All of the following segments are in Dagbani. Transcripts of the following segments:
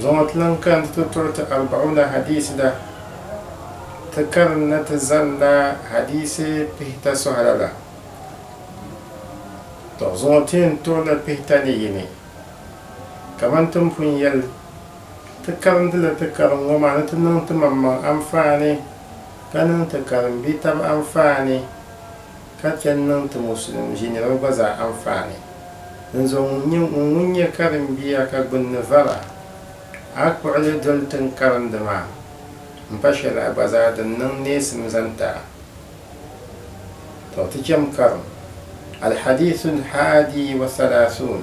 Zuŋɔ ti lan kani ti tɔri ti Arba'una Hadiisi la, ti karinda ti zanila hadiisi pihita sɔhira la. Tɔ! Zuŋɔ ti yɛn tɔrila pihita ni yini. Kaman ti ni pun yɛli, ti karindila ti karim ŋɔ maa ni ti niŋ timaŋmaŋ anfaani, ka niŋ ti karimbitab anfaani. ka chɛ n-niŋ ti Musulim ʒiniriba gba zaa anfaani. Dinzuɣu ŋun nyɛ ŋun ŋun nyɛ karimbia ka gbunni vara a kpuɣili doli ti n karindi maa, m pa shɛli a gba zaa din niŋ neesim zaŋ ti a. Tɔ! Ti cham karim. Al-Hadiisu Al-Haadi Wa Thalaathuun.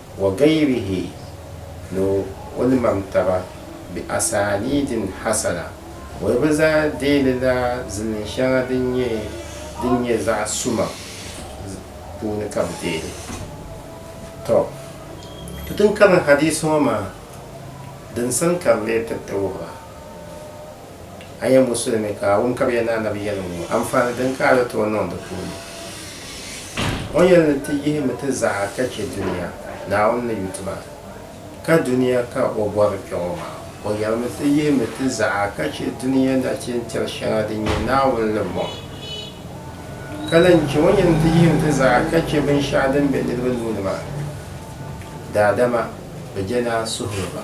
Wa gayrihi ni o ni mam taba bi asaaniidin hasana, bolibu zaa deeli la zilin shɛŋa din nyɛ din nyɛ zaɣ suma puuni ka bi deeli. Tɔ! Ti tin kari hadiisi ŋɔ maa din sani ka di lee tiriti wuhibu. A nyɛ musulimi ka a wum ka bɛ yɛli ni Annabi yɛliŋ ŋɔ, anfaani din ka a ni tooi niŋ di puuni? O yɛli ni ti yihimi ti zaɣa ka chɛ dunia, Naawuni ni yuti ba. Ka dunia ka o bɔri kpɛɣu maa? O yɛlimi ti yihimi ti zaɣa ka chɛ dunia nachin tiri shɛŋa din nyɛ Naawuni ni bɔŋ. Ka lahi chɛ o yɛli ni ti yihimi ti zaɣa ka chɛ binshɛɣu din be niriba nuu ni maa, daadama bɛ je ni a suhiri ba.